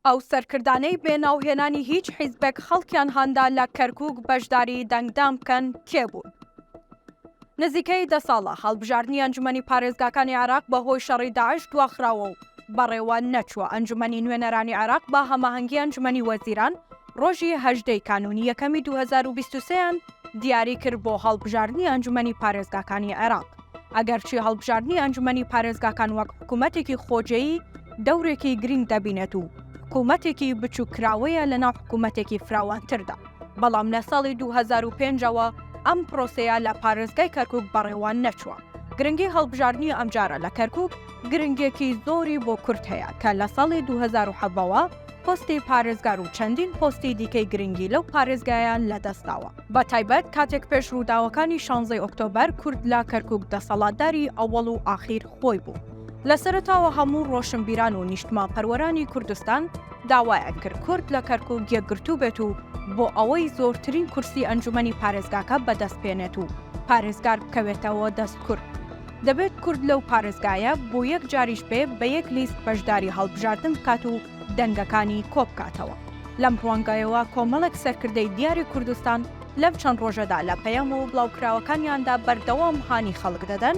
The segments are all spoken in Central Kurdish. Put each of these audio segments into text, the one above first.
ئەو سەرکردانەی بێ ناو هێنانی هیچ حیزبێک خەڵکیان هاندا لە کەرکوک بەشداری دەنگدان بکەن کێ بوون؟ نزیکەی دە ساڵە هەڵبژاردنی ئەنجومەنی پارێزگاکانی عێراق بە هۆی شەڕی داعش دواخراوە و بەڕێوە نەچووە، ئەنجومەنی نوێنەرانی عێراق بە هەماهەنگی ئەنجومەنی وەزیران ڕۆژی هەژدە ی کانوونی یەکەمی دوو هەزار و بیست و سێ یان، دیاری کرد بۆ هەڵبژاردنی ئەنجومەنی پارێزگاکانی عێراق. ئەگەرچی هەڵبژاردنی ئەنجومەنی پارێزگاکان وەک حکومەتێکی خۆجێی دەورێکی گرینگ دەبینێت و حکومەتێکی بچوککراوەیە لەناو حکومەتێکی فراوانتردا، بەڵام لە ساڵی دوو هەزار و پێنج ەوە ئەم پرۆسەیە لە پارێزگای کەرکوک بەڕێوە نەچووە. گرنگی هەڵبژاردنی ئەمجارە لە کەرکوک، گرنگیەکی زۆری بۆ کورد هەیە کە لە ساڵی دوو هەزار و حەڤدە وە پۆستی پارێزگار و چەندین پۆستی دیکەی گرنگی لەو پارێزگایە لەدەست داوە، بە تایبەت کاتێک پێش ڕووداوەکانی شانزەی ئۆکتۆبەر کورد لە کەرکوک دەسەڵاتداری ئەوەڵ و ئاخیر خۆی بوو. لە سەرەتاوە هەموو ڕۆشنبیران و نیشتمانپەروەرانی کوردستان داوایان کرد کورد لە کەرکوک یەکگرتوو بێت و بۆ ئەوەی زۆرترین کورسی ئەنجومەنی پارێزگاکە بەدەست بێنێت و پارێزگار بکەوێتەوە دەست کورد. دەبێت کورد لەو پارێزگایە بۆ یەک جاریش بێ بە یەک لیست بەشداری هەڵبژاردن بکات و دەنگەکانی کۆبکاتەوە. لەم ڕوانگەیەوە کۆمەڵێک سەرکردەی دیاری کوردستان لەم چەند ڕۆژەدا لە پەیام و بڵاوکراوەکانیاندا بەردەوام هانی خەڵک دەدەن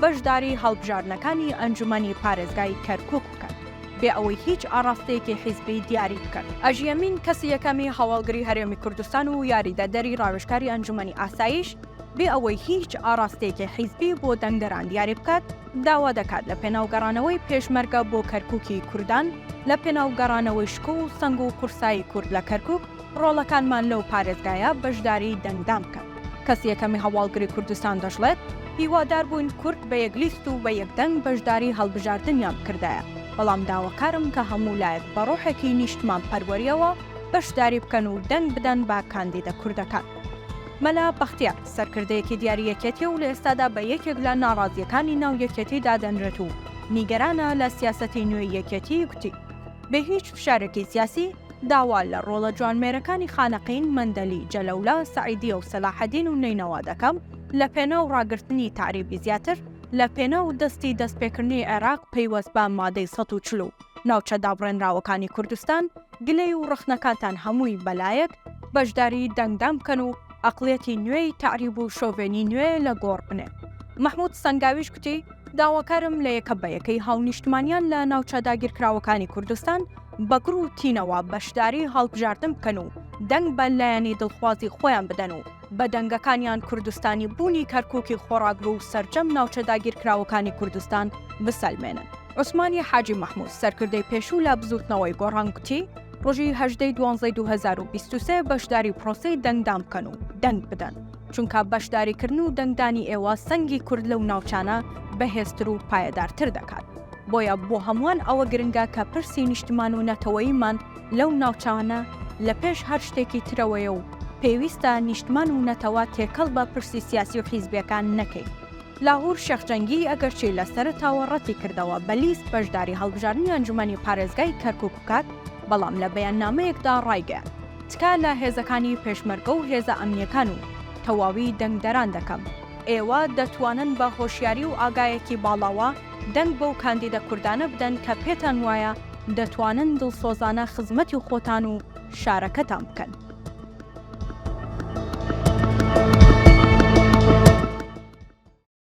بەشداری هەڵبژاردنەکانی ئەنجومەنی پارێزگای کەرکوک بکەن بێ ئەوەی هیچ ئاڕاستەیەکی حیزبی دیاری بکەن. ئەژی ئەمین کەسی یەکەمی هەواڵگری هەرێمی کوردستان و یاریدەدەری ڕاوێژکاری ئەنجومەنی ئاسایش، بێ ئەوەی هیچ ئاڕاستەیەکی حیزبی بۆ دەنگدەران دیاری بکات، داوا دەکات لە پێناو گەڕانەوەی پێشمەرگە بۆ کەرکووکی کوردان، لە پێناو گەڕانەوەی شکۆ و سەنگ و قورسایی کورد لە کەرکووک، ڕۆڵەکانمان لەو پارێزگایە بەشداری دەنگدان بکەن. کەسی یەکەمی هەواڵگری کوردستان دەشڵێت، هیوادار بووین کورد بە یەک لیست و بە یەک دەنگ بەشداری هەڵبژاردنیان بکردایە، بەڵام داواکارم کە هەموو لایەک بە ڕۆحێکی نیشتمانپەروەرییەوە بەشداری بکەن و دەنگ بدەن بە کاندیدە کوردەکان. مەلا بەختیار سەرکردەیەکی دیاری یەکێتیە و لە ئێستادا بە یەکێک لە ناڕازییەکانی ناو یەکێتی دادەنرێت و نیگەرانە لە سیاسەتی نوێی یەکێتی گوتی، بێ هیچ فشارێکی سیاسی داوا لە ڕۆڵە جوانمێرەکانی خانەقین، مەندەلی، جەلەولا، سەعیدیە و سەلاحەدین و نەینەوا دەکەم لە پێناو ڕاگرتنی تەعریبی زیاتر لە پێناو دەستی دەستپێکردنی عێراق پەیوەست بە مادەی سەد و چل و ناوچە دابڕێنراوەکانی کوردستان گلەی و ڕەخنەکانتان هەمووی بەلایەک بەشداری دەنگدان بکەن و ئەقڵیەتی نوێی تەعریب و شۆڤێنی نوێ لە گۆڕ بنێن. مەحمود سەنگاویش کوتی، داواکارم لە یەکە بە یەکەی هاونیشتمانیان لە ناوچە داگیرکراوەکانی کوردستان بە گڕ و تینەوە بەشداری هەڵبژاردن بکەن و دەنگ بە لایەنی دڵخوازی خۆیان بدەن و بە دەنگەکانیان کوردستانی بوونی کەرکوکی خۆڕاگرو و سەرجەم ناوچە داگیرکراوەکانی کوردستان بسەلمێنن. عوسمانی حاجی مەحمود، سەرکردەی پێشوو لە بزووتنەوەی گۆڕان گوتی، ڕۆژی هەژدەی دوانزەی دوو هەزار و بیست و سێ بەشداری پرۆسەی دەنگدان بکەن و دەنگ بدەن، چونکە بەشداریکردن و دەنگدانی ئێوە سەنگی کورد لەو ناوچانە بەهێزتر و پایەدارتر دەکات، بۆیە بۆ هەمووان ئەوە گرنگە کە پرسی نیشتمان و نەتەوەییمان لەو ناوچانە لە پێش هەر شتێکی ترەوەیە و پێویستە نیشتمان و نەتەوە تێکەڵ بە پرسی سیاسی و حیزبیەکان نەکەین. لاهور شێخ جەنگی ئەگەرچی لە سەرەتاوە ڕەتی کردەوە بە لیست بەشداری هەڵبژاردنی ئەنجومەنی پارێزگای کەرکوک بکات، بەڵام لە بەیاننامەیەکدا ڕایگەیاند، تکا لە هێزەکانی پێشمەرگە و هێزە ئەمنیەکان و تەواوی دەنگدەران دەکەم، ئێوە دەتوانن بە هۆشیاری و ئاگایەکی باڵاوە، دەنگ بەو کاندیدە کوردانە بدەن کە پێتان وایە دەتوانن دڵسۆزانە خزمەتی خۆتان و شارەکەتان بکەن.